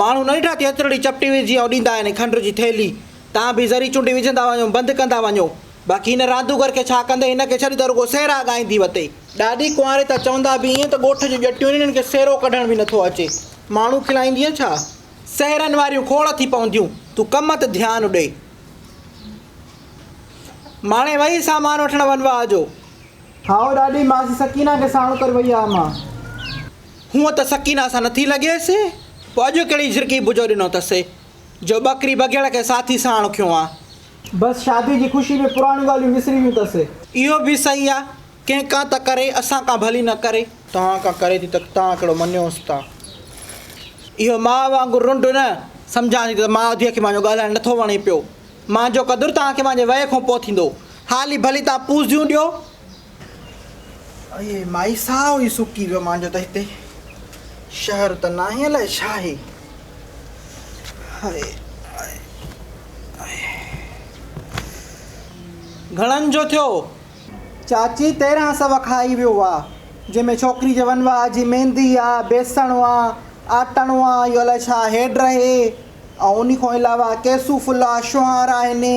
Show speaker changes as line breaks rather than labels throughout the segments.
ماڻهو نه ڏٺا ٿيتر ڙي چپٽي ويس جيئن اڏيندا آهن کنڊ جي ٿيلهي تان به ذري چونڊي وجهندا وڃو بند ڪندا وڃو باقي هن راندوگر کي ڇا ڪندي هن کي ڇڏي ته رڳو سهرا ڳائيندي وتي. ڏاڏي ڪنواري ته چوندا به ائين ته ڳوٺ جون ڄٽيون آهن هنن کي سهرو ڪڍڻ به نٿو اچي ماڻهو کلائيندينء ڇا سهرن واريون کوڙ ٿي پونديون تون ڪم ته ڌيان ڏي ماڻهي وهي سامان وٺڻ ونواء جو. هائو
ڏاڏي ماسي سڪينه کي ساڻو ڪري وئي آ امان. هونء
ته سڪينه سان نٿي لڳيس، پوء اڄ ڪهڙي جهرڪي بجو ڏنو اٿس، جو ٻڪري بگهڙ کي ساٿي ساڻ کنيو آ. بس شاديء
جي خوشيء ۾ پراڻيون ڳالهيون وسري ويون اٿس. اهو به صحيح
آ، ڪنهن ڪا ته ڪري، اسان ڪا ڀلي نه ڪري. توهان ڪا ڪري ٿي ته توهان ڪهڙو مڃيوس ٿا. اهو ماء وانگر رنڊ نه، سمجهان ٿي ته ماء ڌيء کي مانجهو ڳالهائڻ نٿو وڻي پيو. مانجهو قدر توهان کي مانجهي وئي کان پوء ٿيندو. هالي ڀلي توهان پوزيون ڏيو، اهي
مائي ساهو ئي سڪي ويو مانجو ته هتي شهر ته ناهي الائي ڇا
آهي هائي گهڻن جو ٿيو چاچي
تيرهن سو کائي ويو وا جنهن ۾ ڇوڪري جي ونوا جي ميندي آ بيسڻ وا آٽڻ وا اهو الائي ڇا هيڊ رهي ۽ انهي کان علاوه ڪيسو ڦلا شهارا هني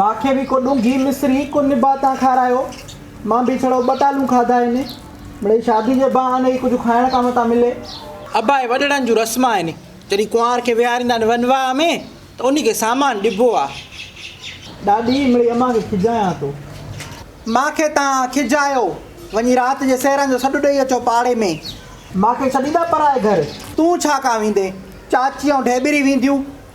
مان کي به ڪو ڏونگي مصري ڪو نباتان کارايو. مان به ڇڙو ٻه ٽالون کاڌا آهن. مڙئي شادي جي بهاني ئي ڪجهه کائڻ ڪام ٿا ملي. ابا اهي وڏڙن
جون رسما آهن. جڏهن ڪنوار کي ويهاريندا آهن ونواهه ۾ ته انهي کي سامان ڏبو آهي. ڏاڏي، مڙئي امان
کي کجايان ٿو. مان کي تان کجايو. وڃي رات جي سيران جو سڏ ڏئي اچو پاڙي ۾. مان کي ڇڏيندا پرائي گهر. تون ڇا ڪان ويندين. چاچي ۽ ڍيٻري وينديون.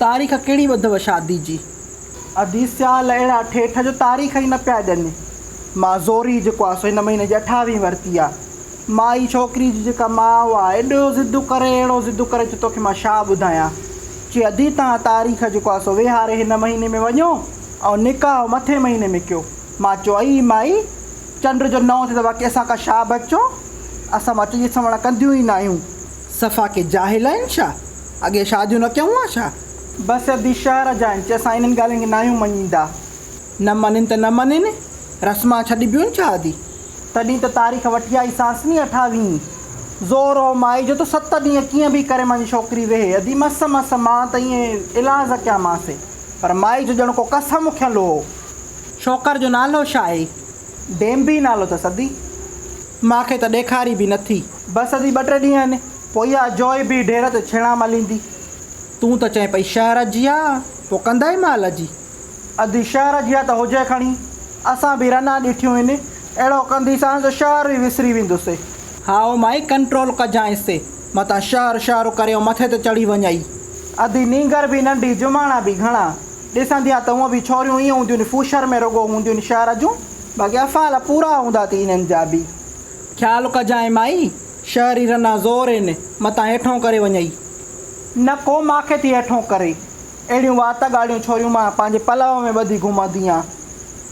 تاريخ ڪهڙي ٻڌوء شادي جي. ادي سيال اهڙا ٺيٺ جو تاريخ ئي نه پيا ڏين. مان زوري جيڪو آهي سو هن مهيني جي اٺاويهين ورتي آهي. مائي ڇوڪري جي جيڪا ماء آهي ايڏو ضد ڪري اهڙو ضد ڪري چي توکي مان ڇا ٻڌايان. چي ادي توهان تاريخ جيڪو آهي سو ويهاري هن مهيني ۾ وڃو ۽ نڪاح مٿين مهيني ۾ ڪيو. مان چوئي ئي مائي، چنڊ جو نئون ٿئي ته واقعي اسان ڪا شاهه بچو، اسان مچ جي سنوڻ ڪنديون ئي نه آهيون. صفا ڪي جاهل آهن ڇا؟ اڳي شاديون نه ڪيون ها ڇا؟ بس ادي شهر جا آهن، چي اسان انهن ڳالهين کي ناهيون مڃيندا. نه مڃين ته نه مڃين، رسما ڇڏبيون ڇا ادي؟ تڏهين ته تاريخ وٺي آئي سانس ني اٺاويهين. زور هو مائي جو ته ست ڏينهن ڪيئن به ڪري مانجي ڇوڪري ويهي. ادي مس مس مان ته ائين الحاظ ڪيامانس، پر مائي جو ڄڻ ڪو قسم کنيل هو. ڇوڪر جو نالو ڇا اهي؟ ڊينبي نالو اٿس ادي. مان کي ته ڏيکاري به نٿي. بس ادي ٻه ٽي ڏينهن آهن. پوء اها جوئي به ڍير تي ڇيڻا مليندي. تون ته چئين پئي شهر جي آ. پوء ڪندئي مال جي. ادي شهر جي آ ته هجي کڻي. اسان به رنا ڏٺيون آهن. اهڙو ڪنديسانس جو شهر به وسري ويندوسي. هائو مائي ڪنٽرول ڪجانء سي. متان شهر شهر ڪريو مٿي تي چڙهي وڃئي. ادي نينگر به ننڍي جماڻا به گهڻا. ڏسندي آ ته هونء به ڇوريون ائين هونديون ني فوشر ۾ رڳو هونديون ني شهر جون باقي افعال پورا هوندا ٿي انهن جا به. خيال ڪجانء مائي! شهري
رنا زور ين متان هيٺون ڪري وڃئي. نه ڪو
مان کي ٿي هيٺون ڪري. اهڙيون وات ڳالهيون ڇوريون مان پنهنجي پلئو ۾ ٻڌي گهمندي آ.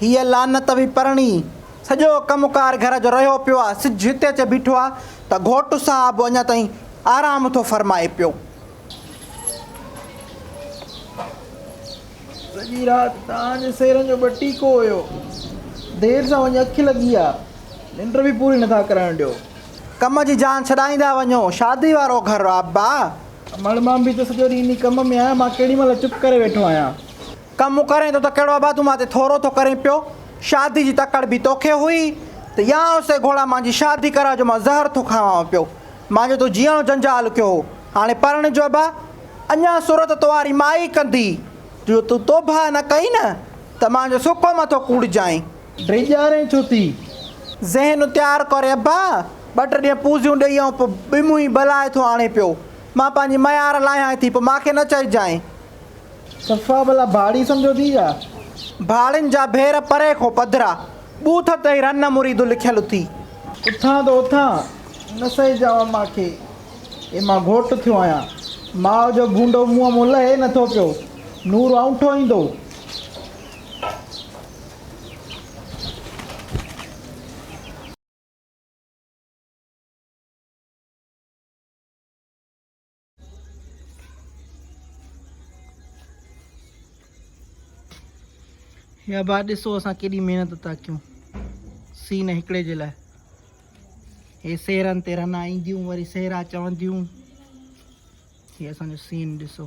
هيء لعنت
به پرڻي، سڄو ڪم ڪار گهر جو رهيو پيو آ، سج هتي اچي بيٺو آ ته گهوٽ صاحب اڃا تائين آرام ٿو فرمائي پيو.
سڄي رات تان جي سيرن جو به ٽيڪو هيو، دير سان وڃي اک لڳي آ، ننڊ به پوري نٿا ڪرڻ ڏيو. ڪم جي جان
ڇڏائيندا وڃو، شادي وارو گهر آ ابا. مڙ مان به
ته سڄو ڏينهن انهي ڪم ۾ آهيان، مان ڪهڙي مهل چپ ڪري ويٺو آهيان. ڪم ڪرين
ٿو ته ڪهڙو ابا تون مان تي ٿورو ٿو ڪرين پيو، شادي جي تڪڙ به توکي هئي ته يا اسي گهوڙا مان جي شادي ڪرا جو مان زهر ٿو کانوان پيو، مان جو تو جيئڻو جنجال ڪيو هو، هاڻي پرڻ جو ابا، اڃان سر ته توهاري ماء ئي ڪندي، جو تون توبهه نه ڪئين نه ته مان جو سڪو مٿو ڪوڙجانء. ڊيڄارين ڇو
ٿي؟ ذهن
تيار ڪري ابا، ٻه ٽي ڏينهن پوزيون ڏيئي آئون، پوء ٻمهين بلائي ٿو آڻي پيو، مان پنهنجي ميار لاهيانء ٿي، پوء مان کي نه چئجانء، صفا
ڀلا ڀاڙي سمجهو ٿي يا. ڀاڙين جا
ڀير پري کون پڌرا. ٻوٿ تئي رن مريدون لکيل اٿي. اٿان ته
اٿان نه سهي جاوا مان کي. اي مان گهوٽ ٿيو آهيان. ماء جو ڀونڊو منهن مون لهي نه ٿو پيو. نور اونٺو ايندو.
يا با ڏسو اسان ڪيڏي محنت تا ڪيون سين هڪڙي جي لاء هي سيرن تي رنا اينديون وري سيرا چونديون هي اسان جو سين ڏسو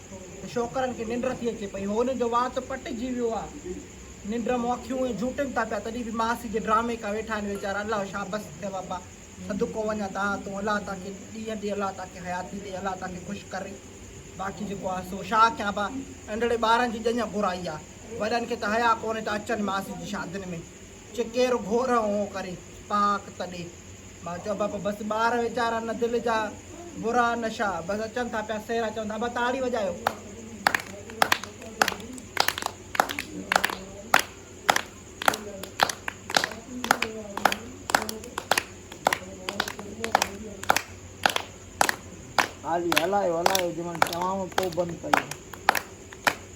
ته شوڪرن کي ننڊ ٿي اچي پئي. هونئن جو وات پٽجي ويو آ. ننڊ مون اکيون ائين جهوٽين ٿا پيا تڏهن به ماسي جي ڊرامي ڪا ويٺا آهن ويچارا الله شابس ٿئي بابا صدقو وڃان تان تون الله تان کي ڏينهن ڏي الله تان کي حياتي ڏي الله تان کي خوش ڪري باقي جيڪو آهي سو شا ڪيان با انڙي ٻارن جي ڄڃ گهرائي آ وڏن کي ته حيا ڪونهي ته اچن ماسي جي شادين ۾ چي ڪير گهور اهو ڪري پاڪ تڏي. مان چيو ابا پوء بس ٻار ويچارا نه دل جا برا نشا بس اچن ٿا پيا سيرا چون ٿا ابا تاڙي وڄايو.
هالي هلايو هلايو جي مهل چوانو پوء بند ڪيو.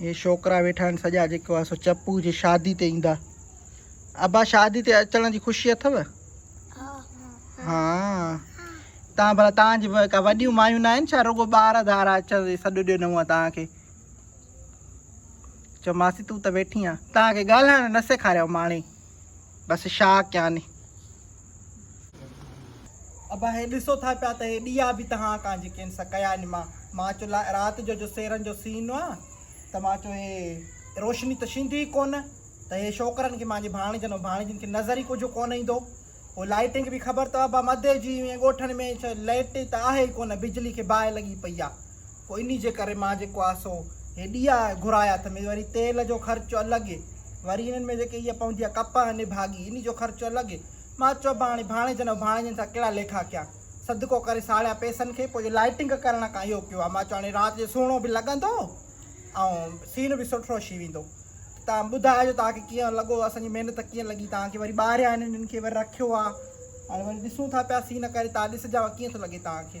هي ڇوڪرا ويٺا آهن سڄا جيڪو آهي سو چپو جي شادي تي ايندا ابا شادي تي اچڻ جي خوشي اٿو ها تان بھلا تان جي کا وڏيون مايون نه آهن ڇا رڳو ٻار ڌار اچڻ جي سڏ ڏنو آهي تان کي چو ماسي تون ته ويٺي آهين تان کي ڳالھائڻ نه سيکاريو ماڻي بس شاهه ڪيان هي. ابا هي ڏسو ٿا پيا ته هي ڏيئا به تهان ڪان جيڪين سا ڪيا آهن مان مان چو لا رات جو جو سيرن جو سين آ ته مان چو هي روشني ته شيندي ئي ڪون ته هي شوڪرن کي مانجي ڀاڻجن ۽ ڀاڻجين کي نظر ئي ڪجهه ڪون ايندو هو لائٽنگ به خبر ته ابا مدي جي ائين ڳوٺن ۾ ڇا لئٽ ته آهي ئي ڪون بجلي کي باهه لڳي پئي آ پوء انهي جي ڪري مان جيڪو آ سو هي ڏيئا گهرايا تھ مينھن وري تيل جو خرچ الڳ وري انهن ۾ جيڪي اها پوندي آ ڪپهه ۽ نڀاڳي انهي جو خرچ الڳ مان چيو ڀاڻي ڀاڻيجن ۽ ڀاڻيجن سان ڪهڙا ليکا ڪيان صدقو ڪري ساڙيا پئسن کي پوء جو لائيٽنگ ڪرڻ کان اهو ڪيو آ مان چيو هاڻي رات جو سهڻو به لڳندو ۽ سين به سٺو ڇي ويندو تان ٻڌائجو توهان کي ڪيئن لڳو اسان جي محنت ڪيئن لڳي توهان کي وري ٻاهريان انهن کي وري رکيو آ ۽ وري ڏسون ٿا پيا سين ڪري توهان ڏسجاء ڪيئن ٿو لڳي توهان کي.